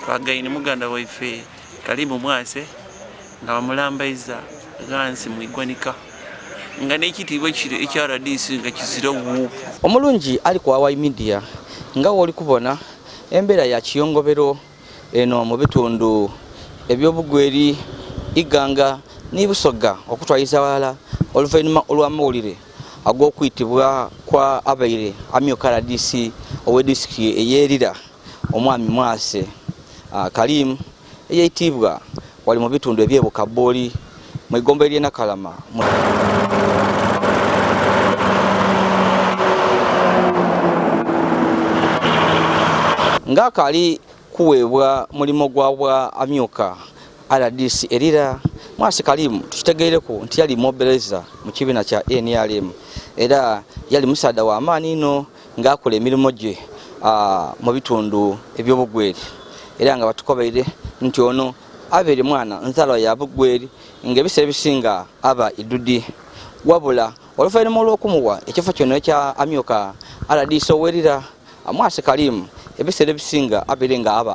twagaine muganda waife kalimu mwase nga bamulambaiza ghansi mu igwanika nga n'ekitiibwa kiro ekya rdc nga kizira wuupu omulungi ali ku awai media nga wooli kubona embeera ya kiyongobero eno mu bitundu eby'obugweri iganga n'ibusogga okutwaliza awalala oluvannyuma olw'amawulire ag'okuyitibwa kwa abaire amyuka rdc ow'edisitiki eyerira omwami mwase ah, kalimu eyayitibwa wali mu bitundu eby'e Bukabbooli mu eggomba ery'e Nakalama. ng'akaali kuweebwa mulimu gwa bwa amyuka rdc erira mwasi kalimu tukitegeereko nti yali mobiliza mu kibiina kya nrm era yali musaada wa maani ino ng'akola emirimu gye mu bitundu eby'obugweri era nga batukobaire nti ono abeere mwana nzalwa ya bugweri ng'ebiseera ebisinga aba idudi wabula oluvannyuma olw'okumuwa ekifo kino ekya amyuka aladiisa owerira mwasi kalimu ebiseera ebisinga abeere nga aba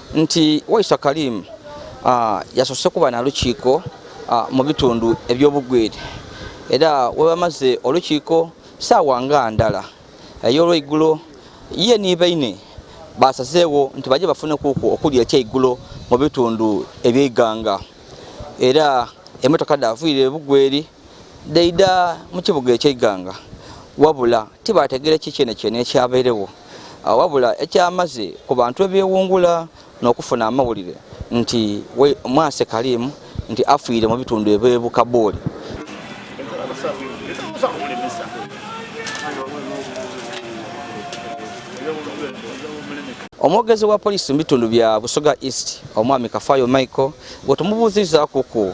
nti Waiswa Karim ah, yasose kuba na lukiiko ah, mu bitundu eby'obugweri era webamaze olukiiko saawa nga ndala ey'olweigulo ye nibaine basazeewo nti baje bafune kuku okulya ekyeigulo mu bitundu ebyeiganga era emotoka davuyire bugweri daida mu kibuga ekyegganga wabula tibaategere ki kyene kyene ekyabeerewo ah, wabula ekyamaze ku bantu ebyewungula n'okufuna amawulire nti mwase kalimu nti afiire mu bitundu ebwebukabooli omwogezi wa poliisi mu bitundu bya busoga east omwami kafayo michael gwetumubuuzizaakuku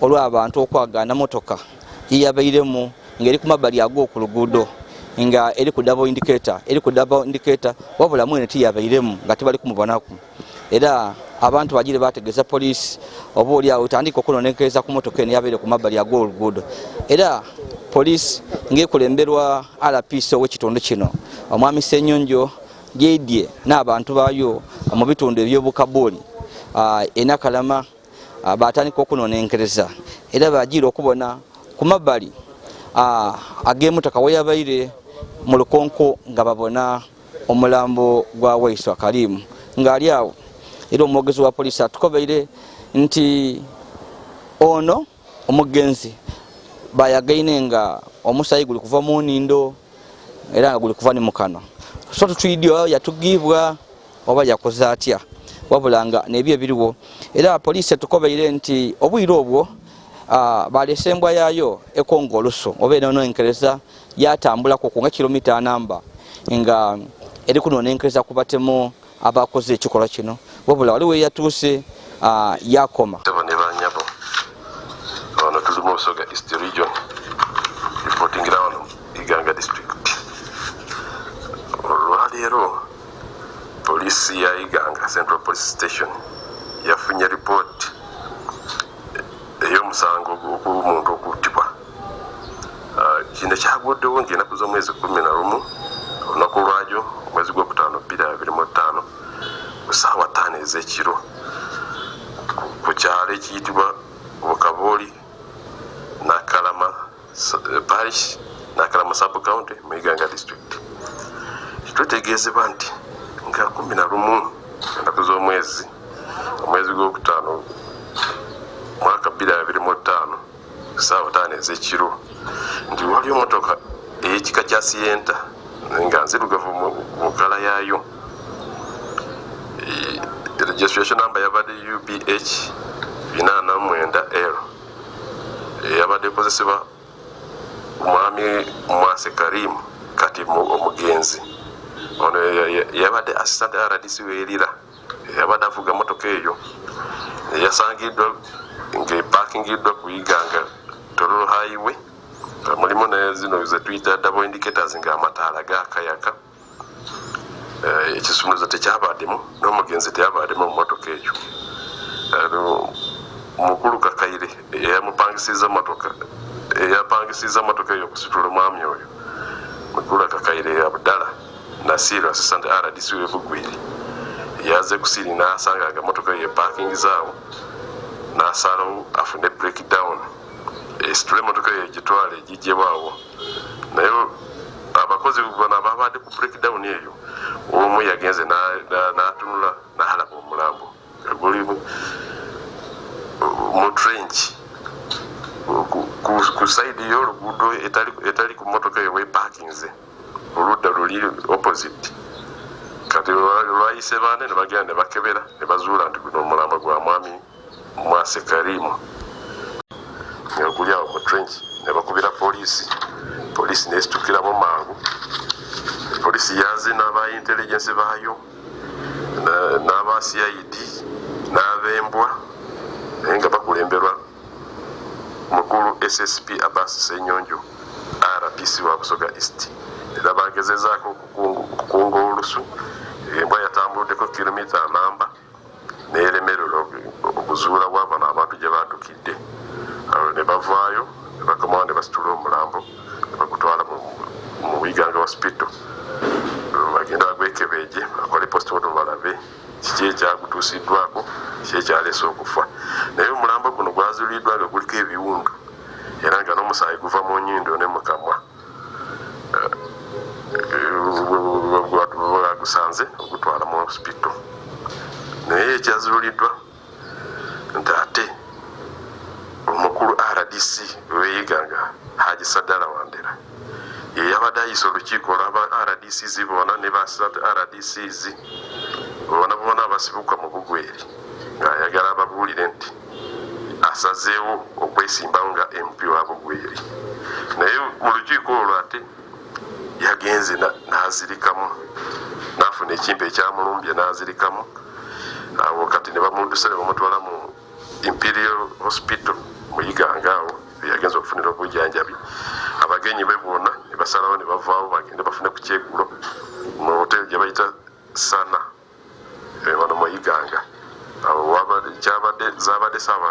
olw'abantu okwagaana motoka yeyabairemu ng'eri ku mabbali agwo ku luguudo nga eri ku dabo indiketa eri ku dabo indiketa wabula mwene tiyabairemu nga tebali kumubonako era abantu bagire bategeza poliisi oba oli awo etandika okunonekereza ku motoka eno yabaire ku mabbali ag'oluguudo era poliisi ng'ekulemberwa rpc ow'ekitundu kino omwami senyonjo gyedye n'abantu baayo mu bitundu eby'obukabuuli enakalama ah, batandika okunonenkereza era bajiira okubona ku mabbali ah, ag'emutaka weyabaire mu lukonko nga babona omulambo gwa waiswa kalimu ng'ali awo era omwogezi wa poliisi atukobeire nti ono omuggenzi bayagaine nga omusayi guli kuva mu nindo era nga guli kuva ni mukano so tutwidi oba yatugibwa oba yakoze atya wabula nga nebyo ebiriwo era poliisi etukobeire nti obwire obwo balese embwa yayo ekonga olusu oba enonenkereza yatambulako kunga kilomita anamba nga eri kunonenkereza kubatemu abakoze ekikolwa kino wabula waliwo eyatuuse ah, yakoma olwaleero poliisi ya iganga central police station yafunye ripooti ey'omusango gw'omuntu okuttibwa kino kyaguddewo ng'enaku z'omwezi kumi na lumu olunaku lwajo omwezi gwokutaano bbiri abiri mu ttaano ku saawa ttaano ez'ekiro ku kyalo ekiyitibwa bukabooli nakalama eh, parish nakalama subcounty mu iganga district tutegeezebwa nti nga kumi na lumu enaku z'omwezi omwezi gwokutaano mwaka bbiri abiri mu ttaano saawa taano ezekiro nti waliyo motoka eyekika kya sienta nga nzirugavu mu kala yaayo registration number yabadde ubh 89 l eyabadde ekozesebwa omwami mwase karim kati omugenzi ono yabadde assistant rdc werira eyabadde avuga emmotoka eyo eyasangiddwa ng'epakingiddwa ku iganga tololo haiwe mulimu nezino zetuyita double indicators ng'amataala gakayaka eh, ekisumuluzo tekyabaddemu n'omugenzi teyabaddemu mu mmotoka eyo mukulu kakaire eyamupangisiza motoka eyapangisiza motoka eyo okusitula omwami oyo mukulu kakaire abdala Nasiru assistant RDC we Bugwiri yaze kusiri n'asanga nga motoka ye parking zaawo n'asalawo afune breakdown esitule motoka ye gitwale egigyebwawo naye abakozi bona babadde ku breakdown eyo omu yagenze n'atunula n'alaba omulambo guli mu trench ku sayidi y'oluguudo etali ku motoka eyo weparkinze oludda luli opposite kati lwayise baana ne bagenda ne bakebera ne bazuula nti guno omulambo gwa mwami mwase karimu neguli awo mu trench ne bakubira poliisi poliisi nesitukiramu mangu poliisi yaze n'aba intelligence baayo n'aba cid n'abembwa naye nga bakulemberwa Mukulu SSP Abbas Ssenyonjo, RPC wa Busoga East, era baagezezaako okukunga olusu. Embwa yatambuluddeko kiromita namba n'eremererwa okuzuula wa bano abantu gye baadukidde. Awo ne bavaayo ne bakomawo ne basitula omulambo ne bagutwala mu Iganga Hospital bagenda bagwekebeegye bakole postmortem balabe kiki ekyagutuusiddwako, kiki ekyaleese okufa. Naye omulambo guno gwazuliddwa nga guliko ebiwundu era nga n'omusaayi guva mu nyindo ne mu kamwa gwagusanze ogutwala mu sipitto naye ekyazuliddwa nti ate omukulu rdc weyiganga haji sadala wandera yeyabadde ayisa olukiiko olwaba rdc zi bona ne ba rdc zi bona bona abasibuka mu bugweri ng'ayagala ababuulire nti asazeewo okwesimbawo nga mp wa bugweri naye mu lukiiko olwo ate yagenze n'azirikamu n'afuna ekimpe ekyamulumbye n'azirikamu awo kati ne bamudusa ne bamutwala mu imperial hospital muyiganga awo eyagenza okufunira obujanjabi abagenyi be bwona ne basalawo ne bavaawo bagende bafune ku kyegulo mu hoteli gye bayita sana Bano mu Iganga gyabadde zaabadde saba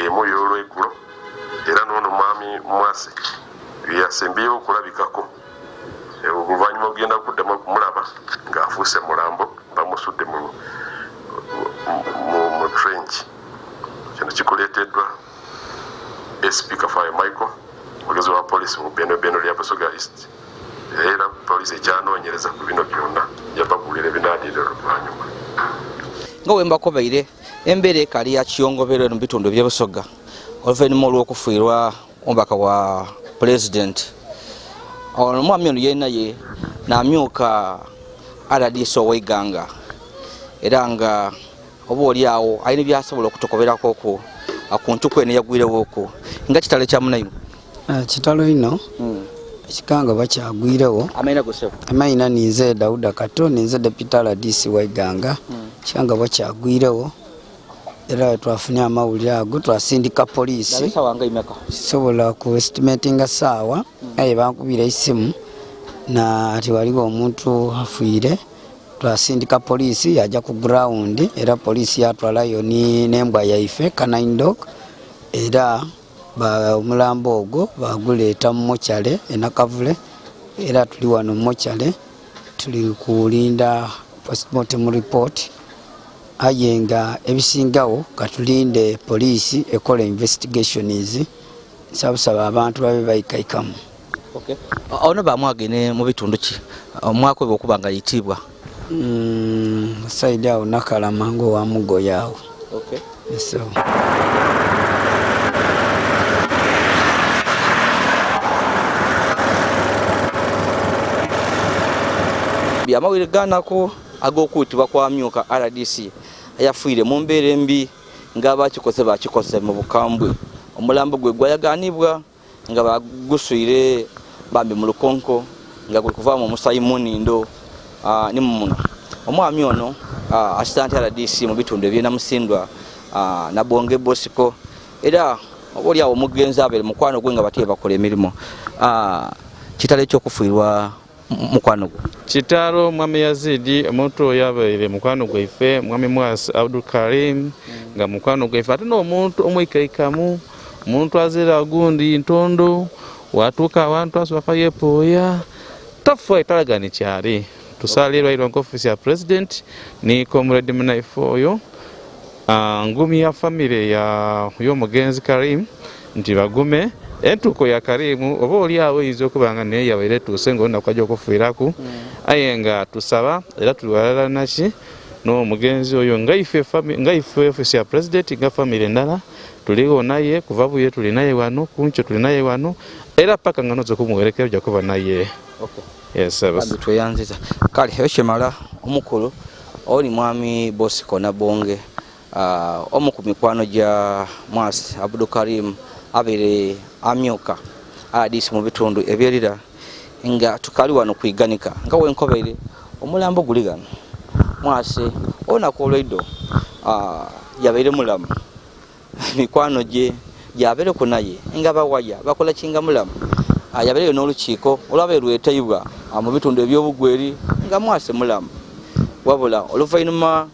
emu ey'olwegulo era n'ono mwami Mwasi yeyasembyeyo okulabikako oluvannyuma ogenda kuddamu okumulaba ng'afuuse mulambo bamusudde mu trench kino kikuleeteddwa ASP Kafaayo Michael, omwogezi wa poliisi mu bendobendo lya Busoga East era poliisi ekyanoonyereza ku bino byonna yababuulira ebinaadiira oluvannyuma nga wembakobeire embeera ekali ya kiyongobero eno mubitundu ebyebusoga oluvannyuma olw'okufuirwa omubaka wa pulezidenti ono omwami ono yenaye namyuka rdc oweiganga era nga oba oli awo alina byasobola okutukoberako ku ku ntuku eno eyagwirewoko nga kitalo kya munayimu ah, kitalo ino hmm. ekikanga bakyagwirewo amayina ninze dauda kato ninze deputa rdc waiganga hmm. ekikanga bakyagwirewo era twafunye amawulire ago twasindika poliisi sobola ku estimatinga saawa hmm. naye bankubira esimu na ati waliwo omuntu afiire twasindika poliisi yajja ku ground era poliisi yatwalayo n'embwa yaife canine dog era omulambo ogwo baguleeta mu mochale enakavule era tuli wano mu mochale tuli kulinda postmortem report aye nga ebisingawo katulinde poliisi ekola investigations nsabusaba abantu babe bayikaikamu Okay. Ono bamwage ne mu bitundu ki omwako bwe okuba nga yitibwa. Mm, saidi awo nakalama ngo wa mugoya awo. Okay. So. Amawulire ganako ag'okuutibwa kwa myuka RDC ayafuire mu mbeera embi ng'abakikoze bakikoze mu bukambwe omulambo gwe gwayaganibwa nga baguswire bambi mu lukonko nga guli kuvaamu omusayi munindo ah, ni mumuno omwami ono ah, assistant rdc mu bitundu ebyena musindwa ah, nabonge bosiko era oba oli awo omugenzi abeere mukwano gwe nga bate bakola emirimu kitalo ekyokufuirwa mukwano gwo kitalo mwami yazidi omuntu oyo abaire mukwano gwaife mwami mwasi abdul karim nga mukwano gwaife ate n'omuntu omwikaikamu omuntu azira gundi ntondo watuuka awantu asubapa yepooya tafa etalaga nikyali tusaala erwairwa nka offiisi ya president ni comrade munaife oyo ah, ngumi ya famire y'omugenzi karim nti bagume entuuko ya kariimu oba oli awo eyinza okuba nga naye yabaire etuuse nga olunaku ajja okufiiraku hmm. aye nga tusaba era tuli walala naki n'omugenzi oyo nga ife ofisi ya pulezidenti nga famiry endala tuliwo naye kuva buye tuli naye wano kunkyo tuli naye wano era paka nga noza okumuwerekera ojja kuba naye tweyanziza kale ekyo kimala omukulu oli mwami bosiko nabonge Uh, omu ku mikwano gya Mwasi Abdul Karim abere amyuka RDC mu bitundu ebyerira nga tukali wano kwiganika nga wenkobere omulambo guli gano Mwasi olunaku olwaido uh, yabeire mulamu mikwano gye gyabere ku naye nga bawaya bakola kinga mulamu uh, yabereyo n'olukiiko olwabe lweteibwa uh, mu bitundu ebyobugweri nga Mwasi mulamu wabula oluvainuma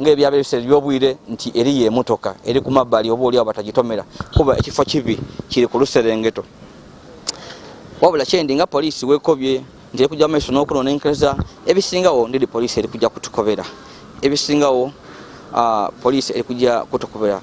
ng'ebyaba ebiseera eby'obwire nti eriyo emotoka eri ku mabbali oba oliawo batagitomera kuba ekifo kibi kiri ku luserengeto wabula kyendi nga poliisi wekobye nti eri kujja maiso n'okunonenkereza ebisingawo ndidi poliisi eri kujja kutukobera ebisingawo ah, poliisi eri kujja kutukobera